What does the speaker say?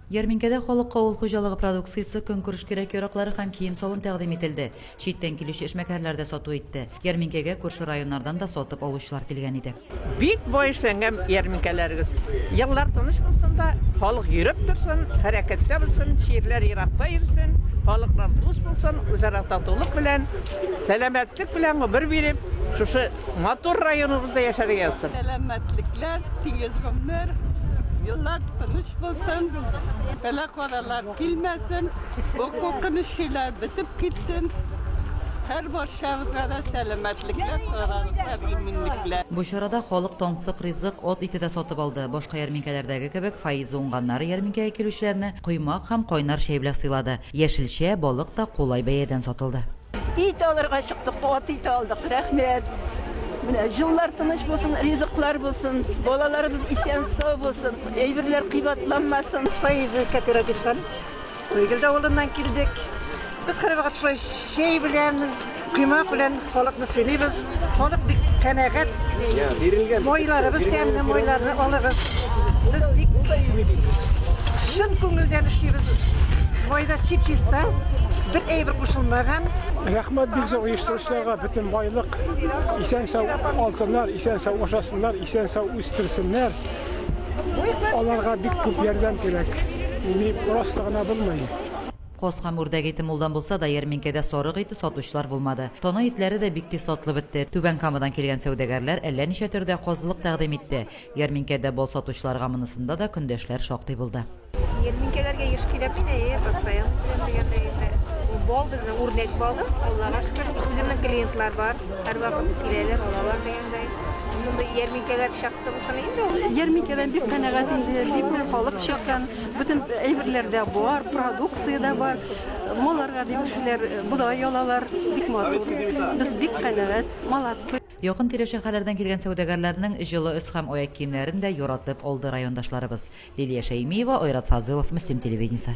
Ярминкәдә халыкка авыл хуҗалыгы продукциясе, көнкүреш кирәк-яраклары һәм кием-салым тәкъдим ителде. Читтән килүче эшмәкәрләр дә сату итте. Ярминкәгә күрше районнардан да сатып алучылар килгән иде. Бик бай эшләнгән ярминкәләрегез. Еллар тыныч булсын да, халык йөреп торсын, хәрәкәттә булсын, чирләр еракта йөрсен, халыклар дус булсын, үзара татулык белән, сәламәтлек белән гомер биреп, шушы Матур районыбызда яшәргә язсын. Сәламәтлекләр, тигез гомер, еллар тыныч булсын, бәла-казалар килмәсен, бу куркыныч чөйләр бетеп китсен. Һәр барчабызга да сәламәтлекләр, саулыклар, иминлекләр. Бу чарада халык тансык ризык, ат ите дә сатып алды. Башка ярминкәләрдәге кебек, Фаиза уңганнары ярминкәгә килүчеләрне коймак һәм кайнар чәй белән сыйлады. Яшелчә, балык та кулай бәядән сатылды. Ит алырга чыктык, ат ите алдык. Рәхмәт. Менә җыллар тыныч булсын, ризыклар булсын, балаларыбыз исән сау булсын, әйберләр кыйбатланмасын. Фаизы кооперативтан Туйгелдә авылыннан килдек. Без һәрвакыт шулай чәй белән, коймак белән халыкны сыйлыйбыз. Халык бик канәгать. Мойларыбыз тәмле, мойларны алыгыз. Без бик чын күңелдән эшлибез. Майда чип-чиста, бер әйбер кушылмаган. Рәхмәт бик зур оештыручыларга, бөтен байлык исән сау алсыннар, исән сау ашасыннар, исән сау үстерсеннәр. Аларга бик күп ярдәм кирәк. Мин просто гына булмый. Каз һәм үрдәк ите мулдан булса да, ярминкәдә сарык ите сатучылар булмады. Тана итләре дә бик тиз сатылып бетте. Түбән Камадан килгән сәүдәгәрләр әллә ничә төрдә казылык тәкъдим итте. Ярминкәдә бал сатучыларга монысында да көндәшләр шактый булды. Ярминкәләргә еш киләм мин, әйе, постоянно киләм дигәндәй инде. Бал безнең үрдәк балы, Аллага шөкер, үземнең клиентлар бар, һәрвакыт киләләр, алалар дигәндәй. Мондый ярминкәләр часто булсын иде инде ул. Ярминкәдән бик канәгать инде, бик күп халык чыккан. Бөтен әйберләр дә бар, продукция дә бар. Маларга дип кешеләр бодай алалар, бик матур. Без бик канәгать, молодцы. Якын-тирә шәһәрләрдән килгән сәүдәгәрләрнең җылы өс һәм аяк киемнәрен дә яратып алды райондашларыбыз. Лилия Шәймиева, Айрат Фазылов, Мөслим телевидениесе.